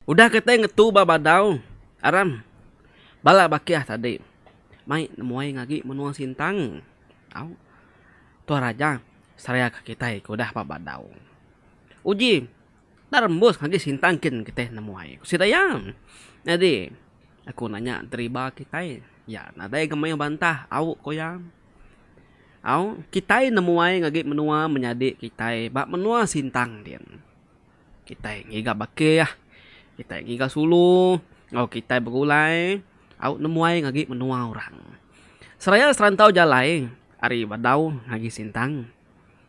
Udah kitai ngetu ba Badau Aram bala bakih tadi mai nemuai agi menua Sintang. Tuan Raja, seraya ke kitai ke udah ba badau. Uji enda rembus ngagai sintang kin kitai nemu ai, ku sida iya. Nyadi, aku nanya deriba kitai, iya nadai ga mayuh bantah, au, ku iya. Au, kitai nemu ai ngagai menua menyadi kitai ba menua sintang din. Kitai ngiga bakih, kitai ngiga sulu enggau kitai begulai au nemuai ngagai menua orang. Seraya serantau jalai ari Badau ngagai Sintang,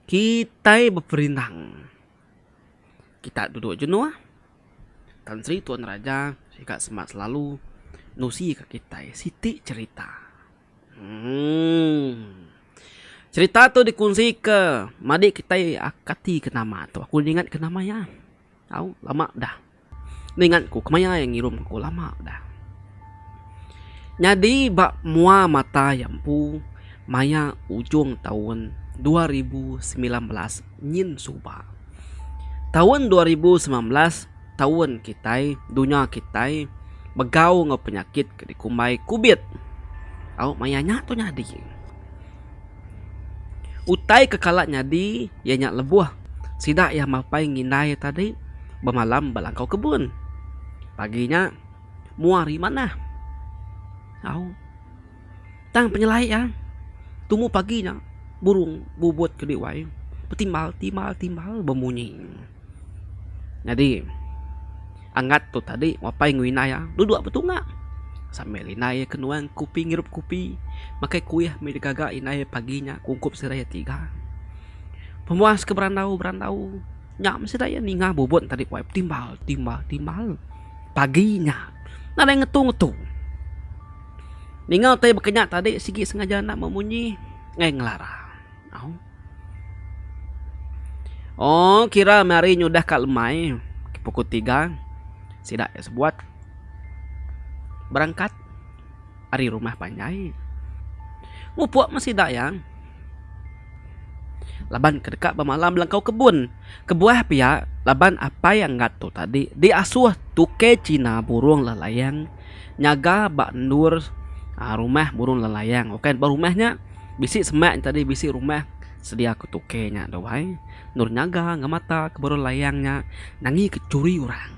kitai beperindang. Kita duduk jenuh, Tan Sri Tuan Raja sida semak selalu nusika kitai siti cherita. Cerita tu dikonsika madi kitai kati ke nama tu. Aku ingat ke nama iya tau lama dah. Enda ingat ku kemaya iya ngirum aku lama dah. Nyadi ba mua mata iya empu maya ujung taun dua ribu semilan belas nyin suba. Taun dua ribu semilan belas. taun kitai, dunya kitai begau enggau penyakit ke dikumbai kubit. Au maya nya tu nyadi. Utai ke kala nyadi iya nya lebuh sida iya mapai ngindai tadi bemalam ba langkau kebun. Pagi nya mua ri manah. Au tang penyelai iya tumu pagi nya burung bubut ke diwai betimbal timbal timbal bemunyi. Nyadi angat tu tadi mapai enggau indai iya dua dua betunga sambil indai iya ke nuan kopi ngirup kopi makai kuih mih da gaga indai iya pagi nya ke ungkup sida iya tiga. Pemuas ke berandau berandau nya meh sida iya ninga bubun tadi pun ai betimbal timbal timbal pagi nya nadai ngetu ngetu. Ninga utai baka nya tadi sigi sengaja enda memunyi ngai ngelara. Ooh kira meh hari nyudah ka lemai pukul tiga sida iya sebuat berangkat ari rumah panjai mupuk meh sida iya laban ke deka bemalam langkau kebun kebuah pia laban apai angat tu tadi diasuh tukey cina burung lalayang. nyaga ba endur rumah burung lalayang ok ba rumah nya bisi semak nya tadi bisi rumah sedia ku tuke nya tu ai endur nyaga ngemata ke burung lalayang nya nangi ke churi orang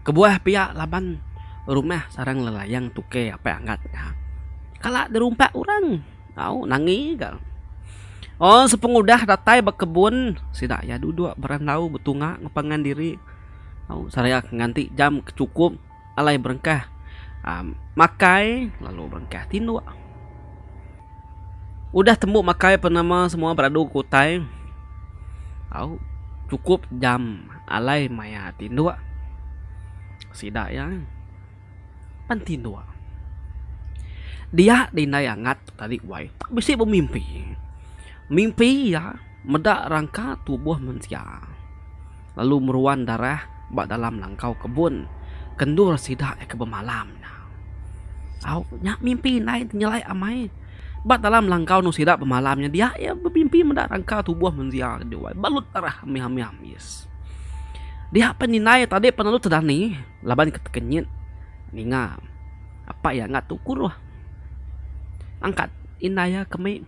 kebuah pia laban rumah sarang lalayang tuke apai angat nya kala dirumpak orang au nangi ga un sepengudah datai ba kebun sida iya dudok berandau betunga ngepangan diri. lalu seraya ke nganti jam ke chukup alai berengkah um makai lalu berengkah tinduk. Udah tembu makai pen nama semua beradu ke utai au chukup jam alai maya tinduk. Sida iya pan tinduk. Dia di indai angat tu tadi wai bisi bemimpi. Mimpi iya meda rangka tubuh mensia. lalu meruan darah ba dalam langkau kebun kendur sida ke bemalam nya. Au, nya mimpi indai ti nyelai amai. Ba dalam langkau endur sida bemalam nya dia iya bemimpi meda rangka tubuh mensia ke diwai balut darah mih-mih ambis. Dia pen indai tadi pen lalu tedani laban ke tekenyit ninga apai iya enda tu kuruh angkat indai iya ke mei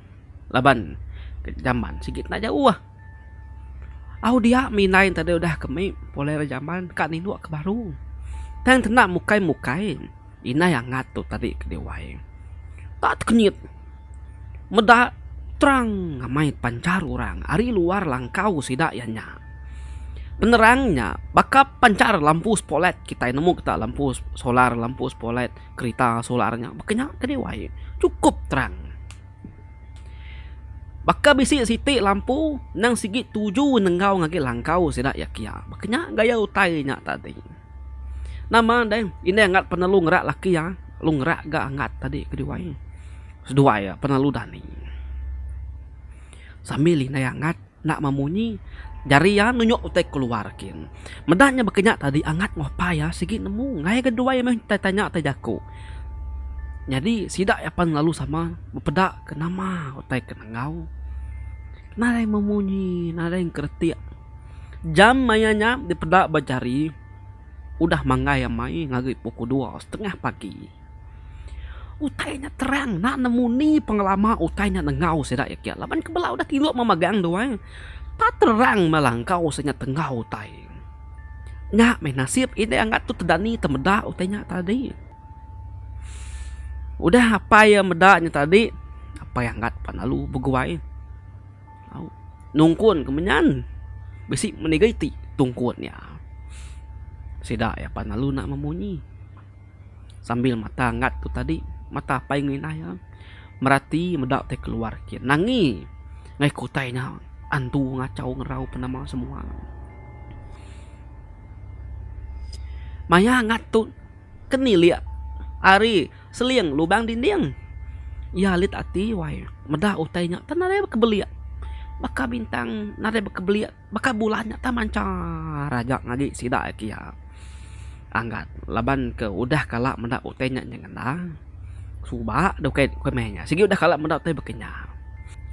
laban ke jamban sigi enda jauh. Au dia mih indai enti deh udah ke mih pulai rak jaman ka nindu ke baru. Tang tenda mukai mukai indai angat tu tadi ke diwai. Ta tekenyit meda terang amai pancar orang ari luar langkau sida iya nya. Penerang nya baka pancar lampu sepolet kitai nemu kita lampu solar lampu sepolet kerita solar nya baka nya ke diwai. Chukup terang. Baka bisi siti lampu nang sigi tuju nenggau ngagai langkau sida iya kiya. Baka nya gaya utai inya tadi. Nama deh indai angat penelu ngerak laki iya lalu ngerak ga angat tadi keduai. Seduai iya penelu dani. Sambil indai angat. Enda mah munyi. Jari iya nunjuk utai keluar kin. Meda nya baka nya tadi angat enggau apai iya sigi nemu ngaia ga duai meh utai tanya utai jaku. Nyadi sida iya pan lalu sama bepeda ke nama utai ke enggau. Nadai meh munyi nadai ke retik. Jam maia nya dipeda ba jari udah manggai amai ngagai pukul dua setengah pagi. Utai nya terang enda nemu ni pengelama utai nya nengau sida iya kek laban ke bela udah tingu meh magang tu ai. Enda terang meh langkau se nya tengau utai. Nya meh nasib indik angat tu tedani temeda utai nya tadi. Udah apai iya meda nya tadi apai angat pan lalu beguai au nungkun ke menyan bisi meniga iti tungkun nya. Sida iya pan lalu enda memunyi. sambil mata ngat tu tadi mata apai nginai iya merati meda tai keluar ke nangi ngai kutai nya andu ngachau ngerau penama semua maya ngat tu kenilik ari seling lubang dinding iya lit ati wai meda utai nya tang nadai bekebelik baka bintang nadai bekebelik. Baka bulan nya tang manchar aja ngagi sida agi iya anggat laban ke udah kala meda utai nya ngendang suba dau kai meh nya sigi udah kala meda utai baka nya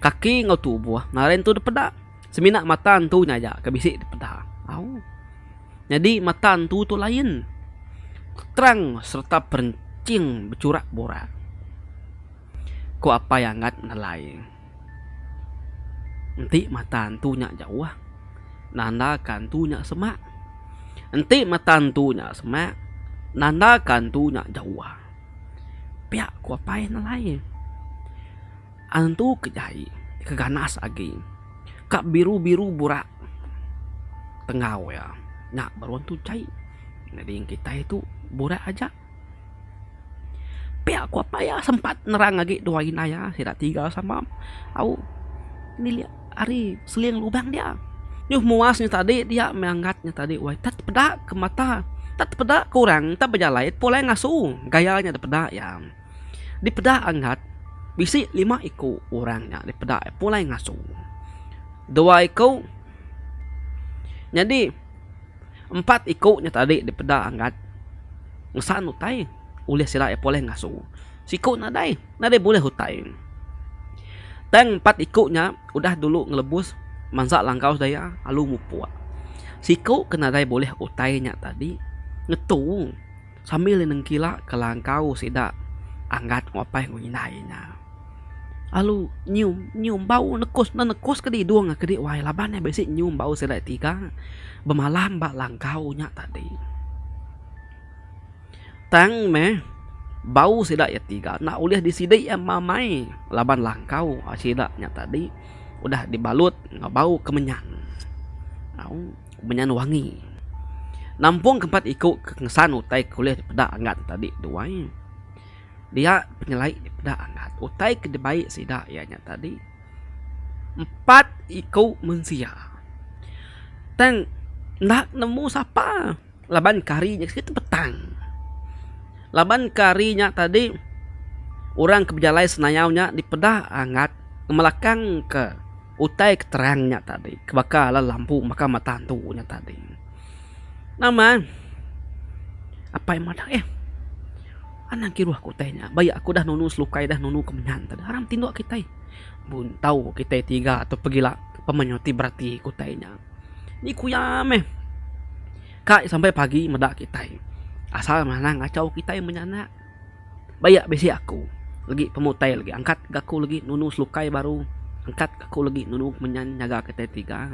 kaki enggau tubuh ngaran entu dipeda semina mata entu nya aja ke bisi dipeda au nyadi mata entu tu lain terang sereta perinching bechurak burak ko apai anggat nelai. Enti mata antu nya jauh, nandaka antu nya semak. Enti mata antu nya semak, nandaka antu nya jauh. Pia ku apai nelai. Antu ke jai ke ganas agi ka biru-biru burak tenggau iya nya baru antu jai. Nyadi kitai tu burak aja. Pia ku apai iya sempat nerang agi dua indai iya sida tiga sama au milik ari seling lubang dia. Nyuh muas nya tadi dia meh angat nya tadi wai tet peda ke mata tet peda ke orang tet bejalai pulai ngasu gaya nya dipeda iya. Dipeda angat bisi lima iku orang nya dipeda iya pulai ngasu dua iku nyadi. Empat iku nya tadi dipeda Anggat ngesan utai ulih sida iya poleh ngasu. Siku nadai, nadai bulih utai. Tang empat iku nya udah dulu ngelebus mansa langkau sida iya lalu mupuk. Siku ke nadai bulih utai nya tadi ngetu. sambil iya nengkilak kelangkau sida Anggat ngupai enggau indai nya. Lalu nyium nyium bau nekus enda nekus ke didung ke di wai laban iya bisi nyium bau sida tiga bemalam ba langkau nya tadi. Tang meh bau sida iya tiga enda ulih disidi iya amai laban langkau sida nya tadi udah dibalut enggau bau kemenyan. Au. Benyan wangi. Nampung ke empat iku ke ngesan utai ke ulih dipeda angat ne tadi tu ai. Dia penyelai dipeda angat utai ke dibai sida iya nya tadi empat iku mensia. Tang enda nemu sapa laban ke hari nya siti petang. Laban ke hari nya tadi orang ke bejalai senayau nya dipeda angat ngemelakang ke. Utai ke terang nya tadi ke baka alah lampu baka mata antu nya tadi. Nama apai madah eh anang kiruh aku utai nya baya aku dah nunu selukai dah nunu kemenyan tadi harang tinduk kitai buntau kitai tiga tu pegila pemenyo ti berati ku utai nya. Ni ku iya meh kai sampai pagi meda kitai asal meh anang ngachau kitai menyana. Bayak bisi aku legi pemutai legi angkat ga aku legi nunu selukai baru angkat ga aku legi nunu menyan nyaga kitai tiga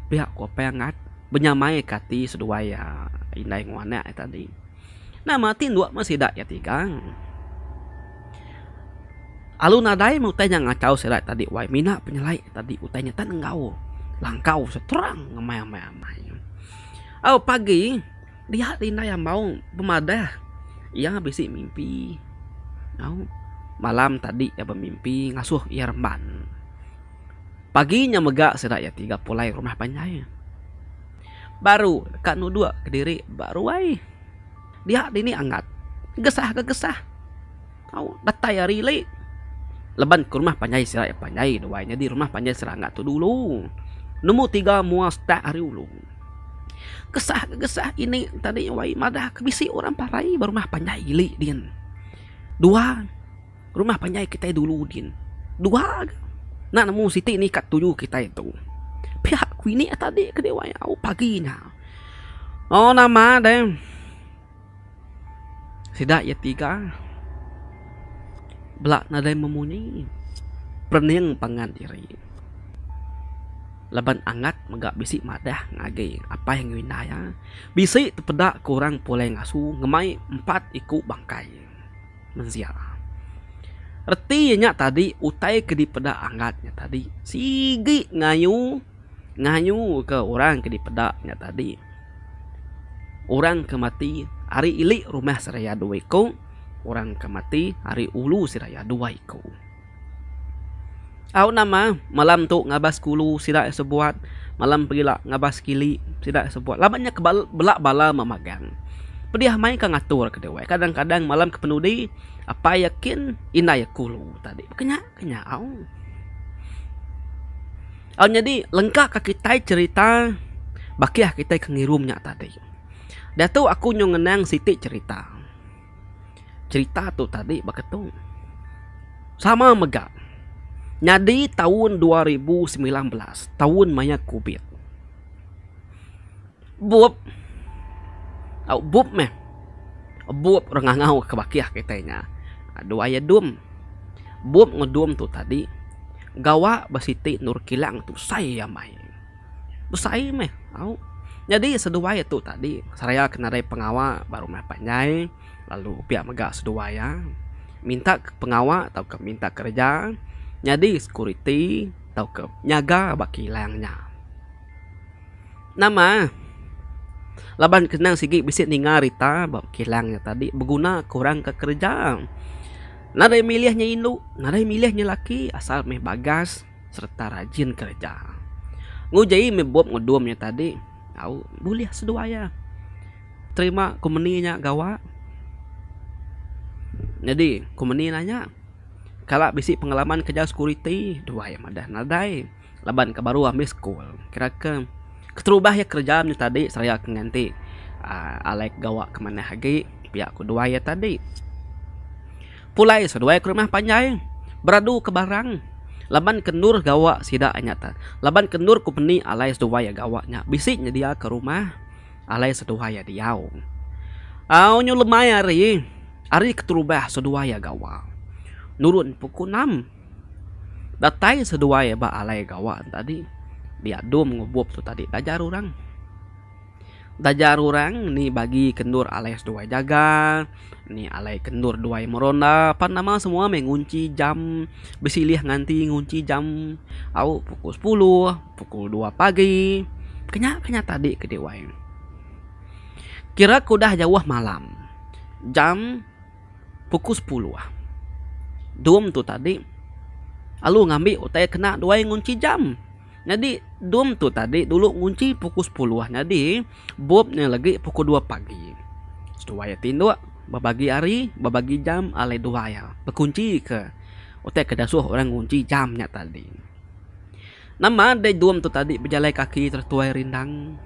pia ku apai angat benyamai ka ati seduai iya indai enggau anak iya tadi nama ti dua meh sida iya tiga alu nadai meh utai nya ngachau sida tadi wai mina penyelai tadi utai nya tan enggau langkau seterang ngemai amai amai au pagi. Dia indai ambau bemadah iya bisi mimpi nyau malam tadi iya bemimpi ngasuh iya remban. Pagi nya mega sida iya ti pulai rumah panjai baru deka nuduk kediri ba ruai dia dini angat gesah ke gesah. Tau datai ari le leban ke rumah panjai sida iya panjai duai nyadi rumah panjai serangga tu dulu nombor tiga mua stak ari ulu. Kesah ke kesah ini tadi wai madah ke bisi orang parai ba rumah panjai ili din. Dua rumah panjai kitai dulu din dua ga nak nemu siti ni ka tuju kitai tu pihak ku ini tadi ke diwai au pagi nya. Au nama deh. Sida iya tiga bela nadai memunyi perening pangan diri laban angat mega bisi madah ngagai apai enggau indai iya. Bisi tepeda ke orang pulai ngasu ngemai empat iku bangkai mensia. Reti iya nya tadi utai ke dipeda angat nya tadi sigi ngayu. ngayuka orang ke dipeda nya tadi. Orang ke mati ari ili rumah seraya dua iku, orang ke mati ari ulu seraya dua iku. Au nama malam tu ngabas kulu sida iya sebuat, malam pila ngabas kili sida iya sebuat laban nya bela bala meh magang. Pedih meh ka ngaturka diau. Kadang-kadang malam ke penudi apai iya kin, indai iya kulu tadi. Baka nya. Ke nya au. Au nyadi lengka ka kitai cerita baki ah kitai ke ngirum nya tadi. Diatu aku nyau ngenang siti cerita. Cerita tu tadi baka tu. Sama mega nyadi taun dua ribu semilan belas, taun maya covid. Bup. Au bup meh. Bup orang ngangau ke bakih kitai nya. Dua iya dum. Bup enggau dum tu tadi gawa ba siti endur kilang tu besai amai. Besai meh. Au. Nyadi seduai tu tadi seraya ke nadai pengawa ba rumah panjai lalu pia mega seduai iya minta pengawa tauka minta kereja nyadi sekuriti tauka nyaga ba kilang nya. Nama eh laban kenang sigi bisi ninga rita ba kilang nya tadi beguna ke orang ke kereja. Nadai milih nya indu nadai milih nya laki asal meh bagas sereta rajin kereja. Nguji meh bup ngudum nya tadi au bulih seduai iya terima kompeni nya gawa. Nyadi kompeni nanya kala bisi pengalaman kereja sekuriti duai madah nadai. laban ka baru ambi school kira ke keterubah iya kerja nya tadi seraya ke nganti aaa alai ke gawa ke manah agi pia ku duai iya tadi. Pulai seduai ke rumah panjai beradu ke barang laban ke endur gawa sida nya te laban ke endur company alai seduai iya gawa nya bisi nyedia ke rumah alai seduai iya diau. Au nyu lemai ari ari keterubah seduai iya gawa nurun puku enam. Datai seduai ba alai gawa tu tadi diadum ngubup tu tadi taja rurang. Taja rurang ni bagi kendur alai seduai jaga, ni alai kendur duai meronda pan nama semua meh ngunchi jam besilih nganti ngunchi jam au pukul sepuluh, pukul dua pagi. Kenya kenya tadi ke diwai ne. Kira ke udah jauh malam jam. Pukul sepuluh. Dom tu tadi alu ngambi utai kena duai ngunchi jam. Nyadi dom tu tadi dulu ngunchi pukul sepuluh nyadi bup nya lagi pukul dua pagi. Seduai iya tinduk bebagi hari, bebagi jam alai duai iya bekunchika utai ke dasuh orang ngunchi jam nya tadi. Nama deh dom tu tadi bejalai kaki terus tuai rindang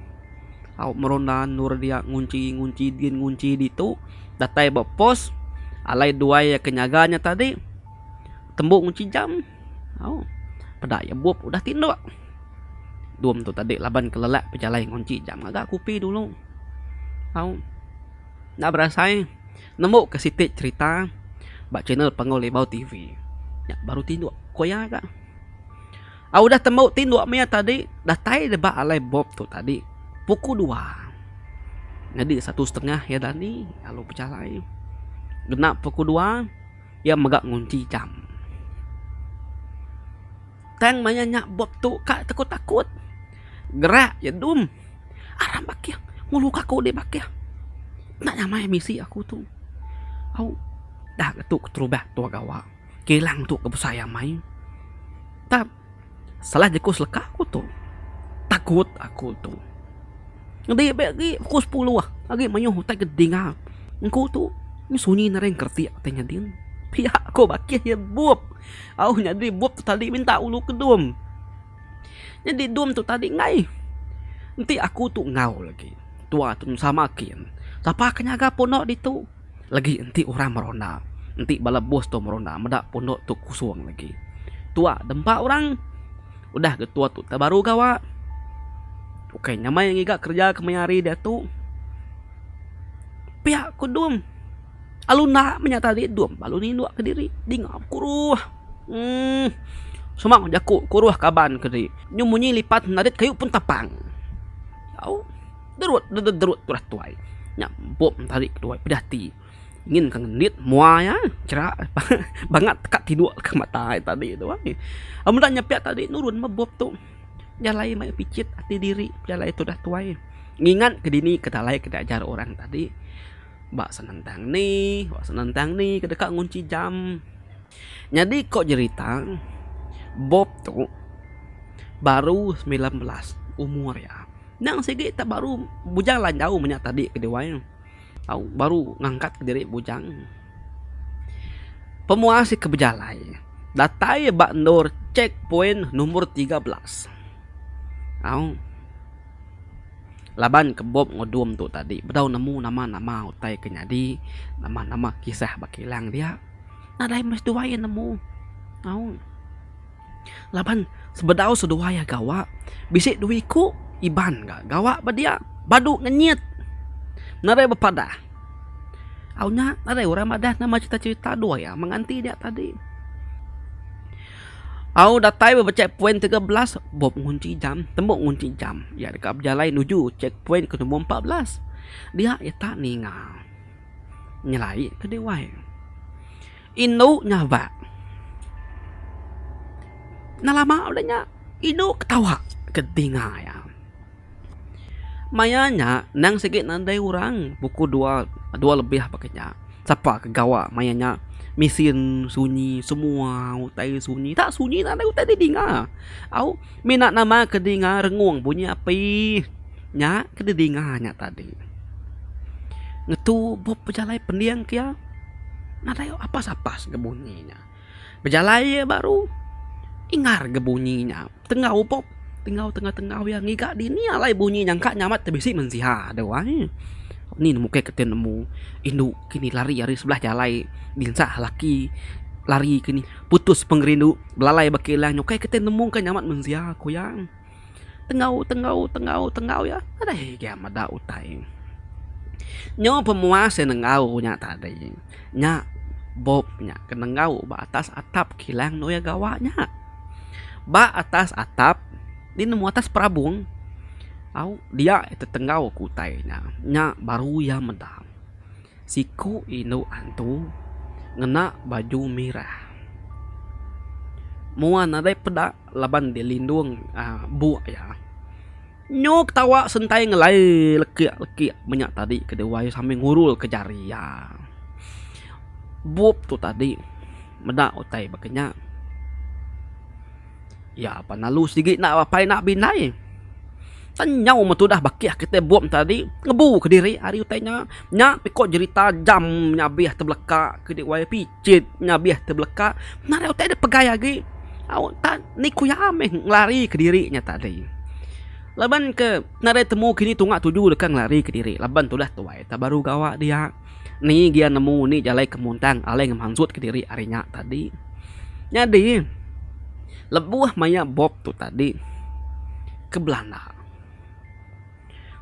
au meronda endur dia ngunchi ngunchi din ngunchi ditu datai ba pos alai dua iya ke nyaga nya tadi tembu ngunchi jam au peda iya bup udah tinduk dom tu tadi laban kelelak pejalai ngunchi jam ngaga kupi dulu au enda berasai nemu ke siti cherita ba channel panggau libau tv nya baru tinduk ku iya ga. Au udah tembu ti dua mia tadi datai deba alai bop tu tadi pukul dua nyadi satu setengah iya dani lalu bejalai ngena pukul dua iya mega ngunchi jam. Tang maya nya bop tu ka tekut takut gerak iya dum aram bakih ngulu ka aku di bakih enda nyamai misi aku tu au dah ngetu keterubah tua gawa. kilang tu ke besai amai tap salah jeku seleka ku tu takut aku tu ngebi be agi pukul sepuluh agi mayuh utai ke dinga engku tu meh sunyi narai engkeretik ti nyadin pia ko bakih iya bup au nyadi bup tu tadi minta ulu ke dum nyadi dum tu tadi ngai enti aku tu enggau lagi tua tu sama kin sapa ke nyaga pondok ditu. Lagi enti orang meronda. Enti bala bos tu meronda meda pondok tu kosong lagi. Tuak da empa orang. Udah ke tuak tu tak baru gawa. Ukai nyamai ngiga kerja ke maya hari diatu. Piak ku dum. Alu enda meh nyata diri dum ba alu nindu ke diri. Dinga kuruh uhh semang jaku kuruh kaban ke diri. Nyu munyi lipat narit kayu pun tapang. Au. Derut dederut turah tuai. Nya empuk entari ketuai peda ati. Ngin ka ngendit mua iya chera bangat teka tiduk ka mata ai tadi tu ai. Meda nya pia tadi nurun meh bup tu. Jalai meh picit ati diri pejalai tudah tuai. Ngingat ke dini ke alai ke diajar orang tadi ba senentang ni ba senentang ni ke deka ngunchi jam. Nyadi ko jerita bup tu baru semilan belas umur iya. Endang sigi tak baru bujang lanjau menya tadi ke diwai ne. Au baru ngangkat ke diri bujang. Pemuas ika bejalai datai ba endur check point nombor tiga belas. Au laban ke bom ngudum tu tadi bedau nemu nama-nama utai ke nyadi, nama-nama kisah ba kilang dia. Nadai meh seduai iya nemu. Au. Laban sebedau seduai iya gawa, bisi dua iku Iban ga gawa ba dia badu ngenyit nadai bepadah. Au nya nadai orang madah nama cerita-cerita dua iya menganti dia tadi. Au datai ba check point tiga belas, buk ngunchi jam, tembu ngunchi jam. Iya deka bejalai nuju check point ke nombor empat belas. Dia ita ninga nyelai ke diwai. Indu nyabak. Enda lama meda nya indu ketawa ke telinga iya. Maya nya endang sigi nadai orang pukul dua dua lebih ba ke nya sapa ke gawa maya nya mesin sunyi semua utai sunyi enda sunyi nadai utai ti dinga. Au mina nama ke dinga rengung bunyi api nya ke dinga nya tadi. Ngetu bup bejalai pending ke iya. Nadai apas-apas ga bunyi nya. Bejalai iya baru ingar ga bunyi nya. Tenggau pok, tenggau tenggau-tenggau iya ngiga dini alai bunyi nya engka nyamat ti bisi mensia dau ai. Ni ne mukih kitai nemu indu kini lari ari sebelah jalai dinsah laki lari ke ni putus pengerindu belalai ba kilang nya ukai kitai nemu ka nyamat mensia ku iya. Tenggau tenggau tenggau tenggau iya alai gia meda utai. Nyo pemuas yang nenggau nya tadi nya bob nya ke nenggau ba atas atap kilang nuya gawa nya. Ba atas atap di nemu atas perabong au dia tetenggau ke utai nya. Nya baru iya meda siku indu antu ngena baju merah. Mua nadai peda. laban dia lindung buk iya. Nyu ketawa sentai ngelai lekik-lekik menya tadi ke dewai sambil ngurulka jari iya. Bup tu tadi meda utai baka nya. Iya pan lalu sigi enda apai enda bindai. Tang nyau meh tudah bakih kitai bup tadi ngebuka diri ari utai nya. Nya piko jerita jam nya abih tebelaka ke dewai. Cit ngabih tebeleka nadai utai dep pegai agi au enta ni ku iya meh ngelari kediri nya tadi laban ke nadai temu kini tunga tuju deka ngelari kediri laban tudah tuai enta baru gawa dia ni gia nemu ni jalai ke muntang alai ngemansut kediri ari nya tadi nyadi lebuh maia bop tu tadi ke belanda.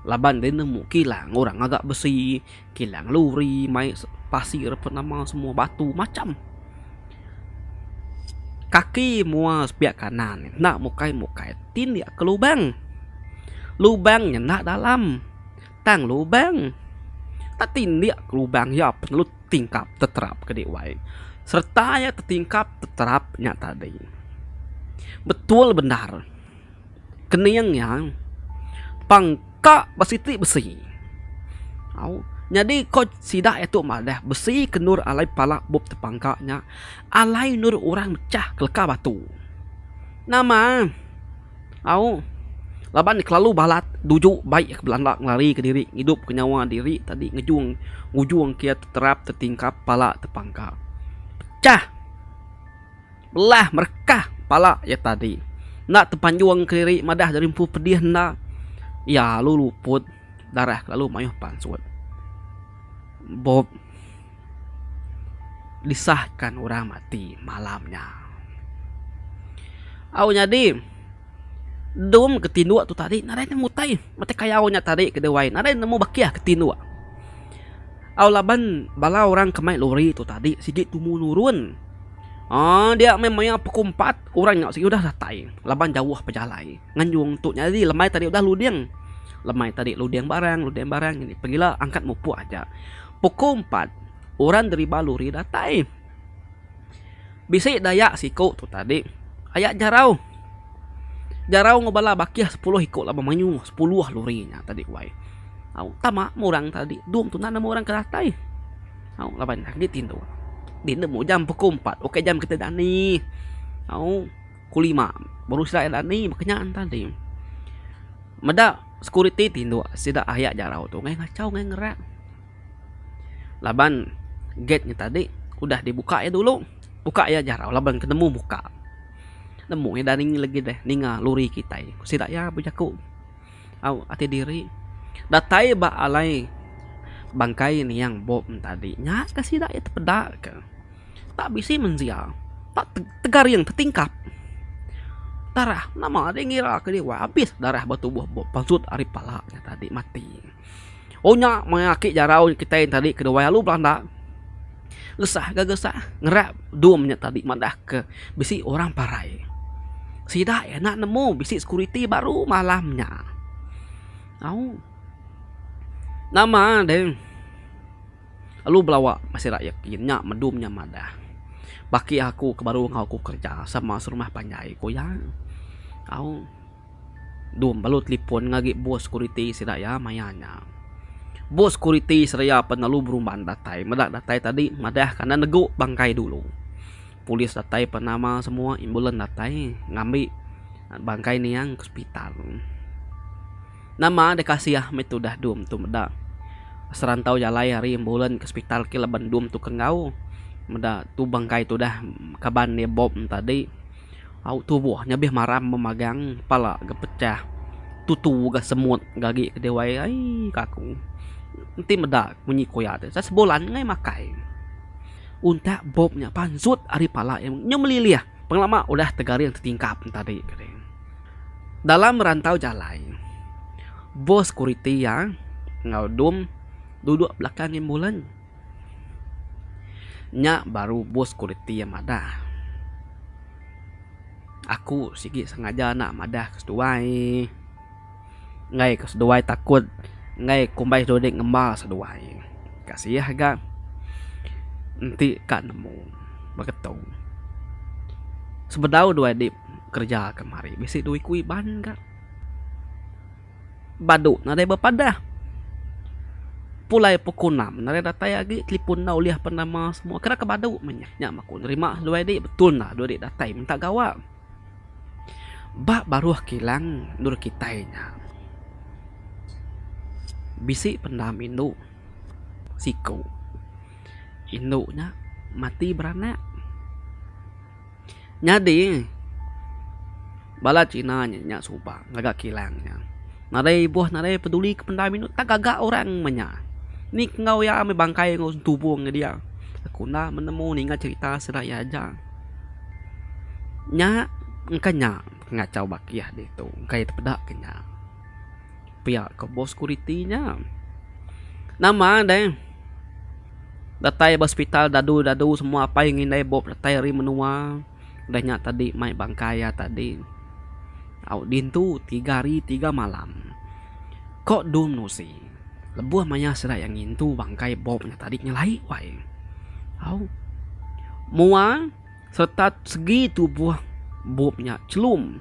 laban deh nemu kilang orang agak besi kilang luri mai pasir ape nama semua batu macam kaki mua sepiak kanan enda mukai mukai ti dia ke lubang lubang nyenda dalam tang lubang tak ti dia ke lubang iya perlu tingkap teterap kedi wai sereta iya tetingkap teterap nya tadi betul bendar. kening iya pang ka ba siti besi. Au nyadi ko sida iya tu madah besi ke endur alai pala bup tepangka nya alai endur orang mechah keleka batu. Nama? Au laban ne kelalu balat duju bai iya ke belanda ngelari ke diri ngidup ke nyawa diri tadi ngejung ngujung ke iya teterap tetingkap pala tepangka. Pecah! Belah merekah pala iya tadi. Enda tepanjung kediri madah diri empu pedih enda. Iya lalu luput darah ke lalu mayuh pansut. Bob disahka orang mati malam nya. Au nyadi dum ke tinduk tu tadi nadai nemu utai. Mati kayau nya tadi ke dewai nadai nemu bakih ke tinduk. Au laban bala orang ke mai lori tu tadi sigi tumu nurun aaa dia meh mayar pukul empat orang nya sigi udah datai laban jauh bejalai nganjung tu nyadi lemai tadi udah luding lemai tadi luding barang luding barang pengila angkat mupuk aja pukul empat orang deriba lori datai. Bisi dayak siku tu tadi aya jarau. Jarau enggau bala bakih sepuluh iku laban mayuh sepuluh lori nya tadi wai. Au tama meh orang tadi dom tuna nama orang ke datai. Au laban agi tingu dineh mu jam pukul empat ok jam kita dani au pukul lima baru sida nya dani meh kinya ne tadi. Meda sekuriti tingu sida aya jarau tu ngancau ngerak. Laban gate nya tadi udah dibuka iya dulu, buka iya jarau laban ke nemu muka. Nemu iya dani legi deh ninga lori kitai. Ku sida iya bejaku au ati diri datai ba alai bangkai niang bom tadi nya ka sida iya tepeda ka. Tak bisi mensia, tak tegaring tetingkap. Darah nama deh ngira ka liwai abis darah ba tubuh bom pansut ari pala nya tadi mati. Onya maya aki jarau kitai tadi keduai alu belanda gesah ga gesah ngerap dom nya tadi madah ke bisi orang parai sida enda nemu bisi security baru malam nya au nama deh alu belawa bisi rakyat ti nya dom nya madah baki aku ke baru aku kerja sama serumah panjai ku iya au. Dum lalu telefon ngagi bos sekuriti sida iya maya nya. Bos sekuriti seraya pan lalu berumban datai. Meda datai tadi madah ke enda negu bangkai dulu. Polis datai pan nama semua ambulans datai ngambi bangkai niang ke sepital. Nama deh kasih meh tudah dum tu meda serantau jalai ari ambulans ke sepital ke laban dum tu ke enggau meda tu bangkai tudah kaban iya bom tadi. Au tubuh nyabih maram memagang pala ga pecah tutu ga semut ga agi ke dewai ai kaku enti meda munyi ku iya teh sebulan neh makai untak bop nya pansut ari pala iya nyu melilih pengelama udah tegaring tetingkap tadi dalam merantau jalai bos sekuriti iya enggau dum duduk belakang ambulan. Nya baru bos kualiti iya madah. Aku sigi sengaja enda madah ke seduai. Enggai ke seduai takut, enggai kumbai seduai dek ngemba seduai. Kasih ga enti ka nemu beketu. Sebedau duai dep kereja kemari bisi duit ku iban ga. Badu nadai bepadah. Pulai pukul enam nadai datai agi telefon enda ulih apan nama semua kada ke badu meh nya. Nya aku nerima dua edi betul enda dua edi datai minta gawa. Ba baruh kilang endur kitai nya bisi pendam indu siku. Indu nya mati beranak. Nyadi bala Cina nya nya suba ngaga kilang nya. Nadai ibuh nadai peduli ke pendai minu tak gaga orang inya nya. Ni enggau iya amai bangkai enggau tubung ke dia. Aku enda menemu ninga cerita sida iya aja. Nya engka nya pengachau ba kieh ditu. Engka iya tepeda ke nya. Pia ke bos kuriti nya. Nama deh. Datai ba hospital dadu dadu semua apai ngi indai bop datai ari menua udah nya tadi mai bangkai iya tadi au dintu tiga hari tiga malam ko dul menusi lebuh maya sida iya ngintu bangkai bop nya tadi nyelai wai au mua serta segi tubuh bop nya chelum.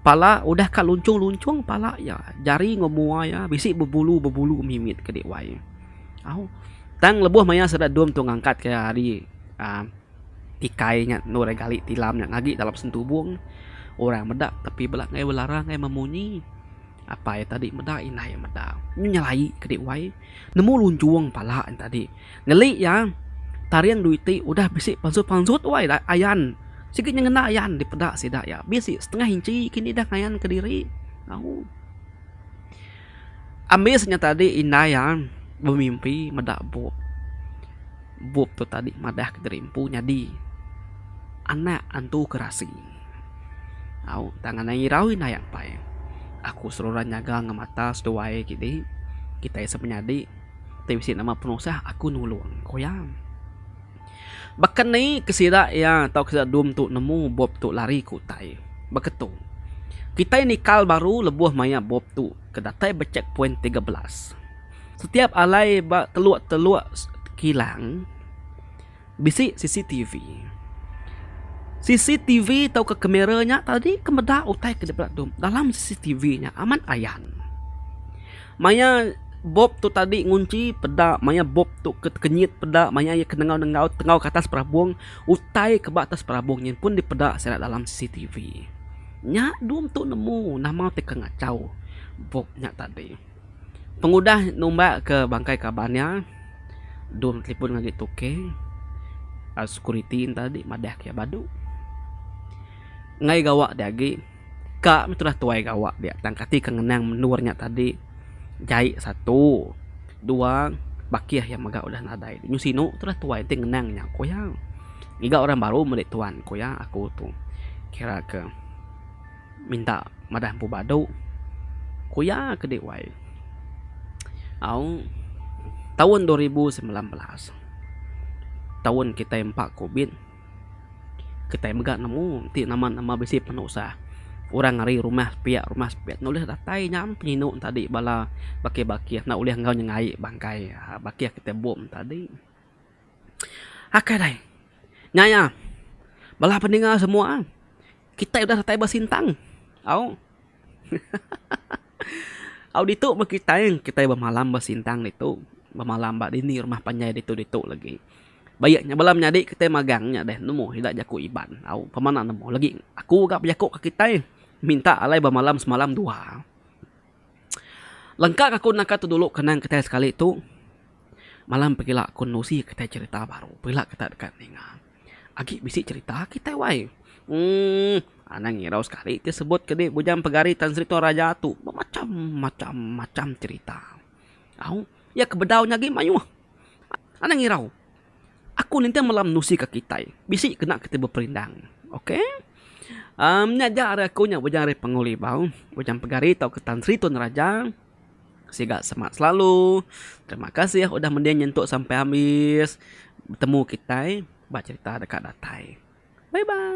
Pala udah ka lunchung-lunchung pala iya, jari enggau mua iya bisi bebulu-bebulu mimit ke dek wai. Au tang lebuh maya sida dom tu ngangkat ke ari aaa tikai nya endur ari gali tilam nya ngagi dalam sentubong orang meda tapi bala ngai belara ngai memunyi apai tadi meda indai meda. Nyu nyelai ke dek wai nemu lunchung pala nya tadi. Ngeli iya, taring duit ti udah bisi pansut-pansut wai ayan sigi nyengena ayan dipeda sida iya. Bisi setengah inchi kini dah ngayanka diri. Au. Ambis nya tadi indai iya bemimpi meda bup. Bup tu tadi madahka diri empu nyadi anak antu Kerasi. Au tang anang irau indai iya empai. Aku seruran nyaga enggau mata seduai kidi kitai semenyadi. Ti bisi nama penusah aku nulung, ku iya. Baka ni ke sida iya tau ke sida dum tu nemu bup tu lari ke utai? Baka tu, kitai nikal baru lebuh maya bup tu ke datai ba checkpoint tiga belas. Setiap alai ba teluk-teluk kilang. Bisi CCTV. CCTV tauka kamera nya tadi ke meda utai ke dibela tu dalam CCTV nya amat ayan. Maya bop tu tadi ngunchi peda maya bop tu ke tekenyit peda maya iya ke nengau-nengau tengau ke atas perabung utai ke ba atas perabung nyin pun dipeda sida dalam CCTV. Nya dum tu nemu nama ti ke ngachau bop nya tadi. Pengudah numbak ke bangkai kaban nya, Dun telefon ngagai Tuke, lalu sekuriti nya tadi madahka iya badu. Enggai gawa ti agi, ka meh tudah tuai gawa dia tang kati ke ngenang menua nya tadi jai satu, dua bakih iya mega udah nadai. Nyuh sinu tudah tuai ti ngenang nya ku iya. Ngiga orang baru meli tuan ku iya aku tu kira ke. Minta madah empu badu. Ku iya ke dih wai. Aung taun dua ribu semilan belas. Taun kitai empa covid. Kitai mega nemu ti nama nama bisi penusah. Orang ari rumah sepiak rumah sepiak enda ulih datai nyam penyinu ne tadi bala bakih bakih enda ulih enggau nyengai bangkai bakih ti bup ne tadi. Akai alai. Nya iya. Bala pendengar semua, kitai udah datai ba sintang. Au. Au ditu meh kitai, kitai bemalam ba sintang ditu. Bemalam ba dinding rumah panjai ditu ditu lagi. Ba iya nya bala menyadi kitai magang nya deh nemu sida jaku Iban. Au, pemana nemu lagi. Aku ga bejaku ka kitai, minta alai bemalam semalam dua. Lengka ka aku naka tu dulu kenang kitai sekali tu. Malam pegila aku nusi kitai cerita baru pegila kita deka ninga. Agi bisi cerita kitai wai. Umm anang irau sekali ti sebut ke di Bujang Pegari Tan Sri Toraja tu bemacham macham macham cerita. Au iya ke bedau nya agi mayuh. Anang irau aku ninting malam nusi ka kitai bisi kena kitai beperindang. Okey uhh nya aja ari aku nya Bujang ari Pengu Libau, Bujang Pegari tauka Tan Sri Tun Raja. Siga semak selalu. Terima kasih udah mending nyentuk sampai habis betemu kitai ba cerita deka datai. Bye bye.